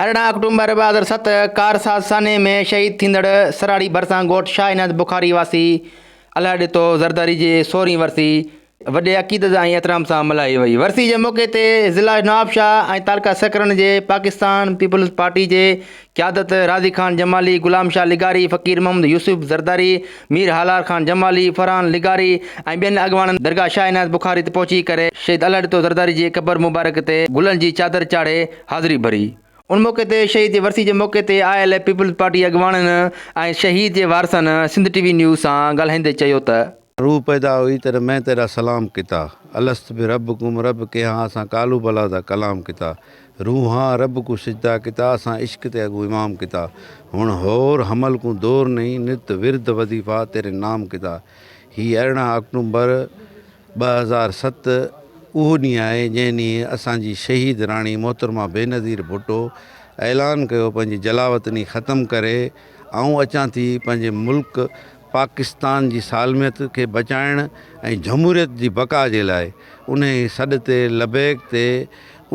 ارڙهن آڪٽومبر ٻه هزار ست ڪارساز سانحي ۾ شهيد ٿيندڙ سراڙي ڀرسان ڳوٺ شاهه عنايت بخاري واسي الهه ڏتو زرداري جي سورهين ورسي وڏي عقيدت ۽ احترام سان ملهائي وئي. ورسي جي موقعي تي ضلع نوابشاهه ۽ تعلقه سکرن جي پاڪستان پيپلز پارٽي جي قيادت راضي خان جمالي، غلام شاهه لغاري، فقير محمد يوسف زرداري، مير هالار خان جمالي، فرحان لغاري ۽ ٻين اڳواڻن درگاهه شاهه عنايت بخاري تي پهچي ڪري شهيد الهه ڏتو زرداري جي قبر مبارڪ تي گلن جي چادر چاڙهي حاضري ڀري. ان موقعي تي شهيد جي ورسي جي موقعي تي آء ايل اي پيپلز پارٽي اڳواڻن ۽ شهيد جي وارثن سنڌ ٽي وي نيوز سان ڳالهائيندي چيو ته. روح پيدا هئي تڏهن مين تيرا سلام ڪتا الست بربڪم رب ڪي هان اسان ڪالو بلا دا ڪلام ڪتا روح هان رب ڪون سجدا ڪتا اسان عشق تي اڳون امام ڪتا هڻ هور حمل ڪون دور نئين نت ورد وظيفا تيري نام ڪتا هي ارڙهن آڪٽومبر ٻه هزار ست اهو ڏينهن آهي جنهن ڏينهن اسان جي شهيد راڻي محترمه بينظير ڀٽو اعلان ڪيو پنهنجي جلاوطني ختم ڪري آئون اچان ٿي پنهنجي ملڪ پاڪستان جي سالميت کي بچائڻ ۽ جھموريت جي بقا جي لاء انهي سڏ تي لبيڪ تي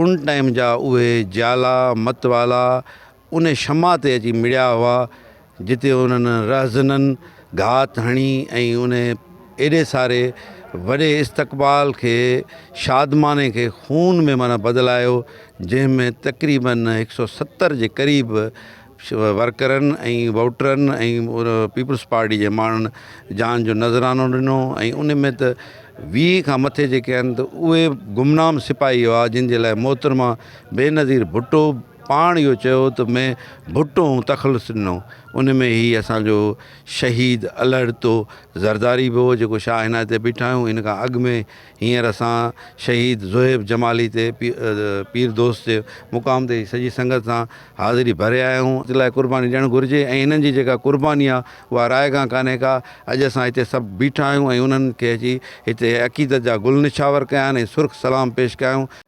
ان ٽائيم جا اهي جيالا متوالا ان شمع تي اچي مڙيا هئا، جتي انهن رهزنن گهات هڻي ۽ ان ايڏي ساري وڏي استقبال کي شادماني کي خون ۾ معنيٰ بدلايو، جنهن ۾ تقريباً هڪ سؤ ستر جي قريب ورڪرن ۽ ووٽرن ۽ پيپلز پارٽي جي ماڻهن جان جو نذرانو ڏنو ۽ ان ۾ ته ويهه کان مٿي جيڪي آهن ته اهي گمنام سپاهي هئا، جن جي لاء محترمه بينظير ڀٽو پاڻ اهو چيو ته مين ڀٽو ۽ تخلص ڏنو ان ۾ هي اسانجو شهيد الهڏتو زرداري به هو جيڪو شاهه عنايت تي بيٺا آهيون ان کان اڳ ۾ هينئر اسان شهيد زوهيب جمالي تي پير دوست جي مقام تي سڄي سنگت سان حاضري ڀري آيا آهيون ان لاء قرباني ڏيڻ گهرجي ۽ هنن جي جيڪا قرباني آهي اها رائگان ڪانهي ڪا اڄ اسان هتي سڀ بيٺا آهيون ۽ انهن کي اچي هتي عقيدت جا گل نڇاور ڪيا آهن ۽ سرخ سلام پيش ڪيا آهيون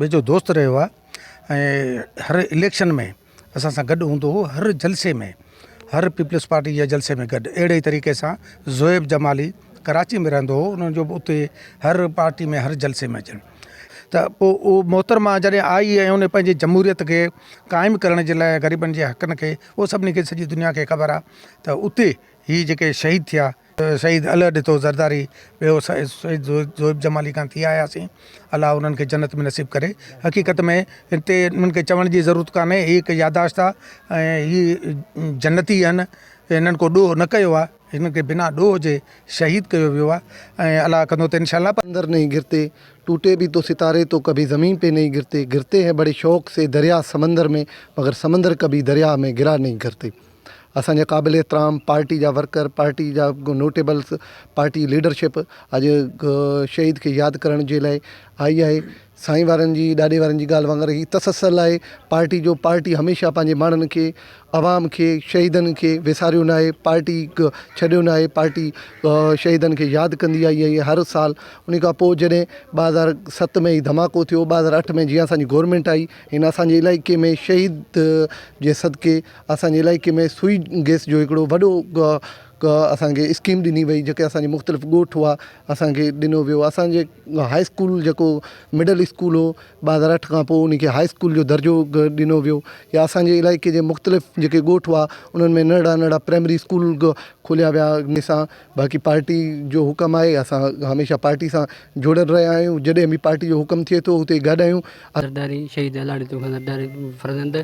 ويجهو دوست رهيو آهي ۽ هر اليڪشن ۾ اسان سان گڏ هوندو هو هر جلسي ۾ هر پيپلز پارٽي جي جلسي ۾ گڏ اهڙي طريقي سان زوئب جمالي ڪراچي ۾ رهندو هو انهن جو اتي هر پارٽي ۾ هر جلسي ۾ اچڻ ته پو اهو محترمه جڏهن آئي ۽ ان پنهنجي جمهوريت کي قائم ڪرڻ جي لاء غريبن جي حقن کي اهو سڀني کي سڄي دنيا کي خبر آهي ته اتي هي جيڪي شهيد ٿيا شهيد اله ڏتو زرداري ٻيو شهيد زويب جمالي کان ٿي آيا سين الله انهن کي جنت ۾ نصيب ڪري حقيقت ۾ هتي انهن کي چوڻ جي ضرورت ڪانهي هي هڪ ياداشت آ ۽ هي جنتي آهن هنن ڪو ڏوهه نه ڪيو آ هنن کي بنا ڏوهه جي شهيد ڪيو ويو آ ۽ الله ڪندو ته انشاء الله پر اندر نهين گرتي ٽوٽي بي تو ستاري تو ڪڀي زمين پي نهين گرتي گرتي هين بڙي شوق سي دريا سمندر مين مگر سمندر ڪڀي دريا مين گرا نهين گرتي. اسان جا قابل احترام پارٽي جا ورڪر، پارٽي جا نوٽيبلز، پارٽي ليڊرشپ اڄ شهيد کي ياد ڪرڻ جي لاء آئي آهي. سائين وارن جي ڏاڏي وارن جي ڳالهه وانگر هي تسلسل آهي پارٽي جو، پارٽي هميشه پنهنجي ماڻهن کي، عوام کي، شهيدن کي وساريو ناهي، پارٽي ڇڏيو ناهي، پارٽي شهيدن کي ياد ڪندي آئي آهي هر سال. انهي کان پوء جڏهن ٻه هزار ست ۾ هي ڌماڪو ٿيو، ٻه هزار اٺ ۾ جيئن اسان جي گورنمينٽ آئي، هن اسان جي علائقي ۾ شهيد جي صدقي، اسان جي علائقي ۾ سوئي گئس جو هڪڙو وڏو اسان کي اسڪيم ڏني وئي جيڪي اسان جي مختلف ڳوٺ هئا اسان کي ڏنو ويو اسان جي هاء اسڪول جيڪو مڊل اسڪول هو ٻه هزار اٺ کان پوء ان کي هاء اسڪول جو درجو ڏنو ويو يا اسان جي علائقي جي مختلف جيڪي ڳوٺ هئا انهن ۾ ننڍڙا ننڍڙا پرائمري اسڪول کوليا ويا ان سان باقي پارٽي جو حڪم آهي اسان هميشه پارٽي سان جڙيل رهيا آهيون جڏهن به پارٽي جو حڪم ٿئي ٿو اتي گڏ آهيون. زرداري شهيد الاڙي تون خان زرداري فرزند.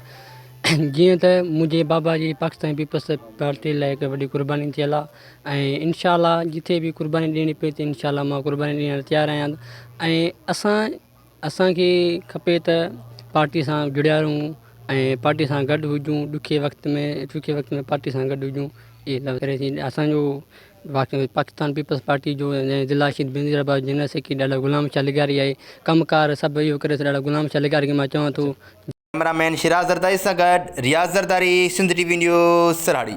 جيئن ته منهنجي بابا جي پاڪستان پيپلز پارٽي لاء هڪ وڏي قرباني ٿيل آهي ۽ انشاء الله جتي به قرباني ڏيڻي پئي ته انشاء الله مان قرباني ڏيڻ لاء تيار آهيان ۽ اسان اسانکي کپي ته پارٽي سان جڙيا رهون ۽ پارٽي سان گڏ هجون ڏکي وقت ۾ سکي وقت ۾ پارٽي سان گڏ هجون اسانجو باقي پاڪستان پيپلز پارٽي جو ضلع Shaheed Benazirabad general secretary ڏاڏا غلام شاھ لغاري آهي ڪم ڪار سڀ اهو ڪري ٿو ڏاڏا غلام شاھ لغاري کي مان چوان ٿو ڪئميرا مين شيراز زرداري سان گڏ رياض زرداري سنڌ ٽي وي نيوز سرهاڙي.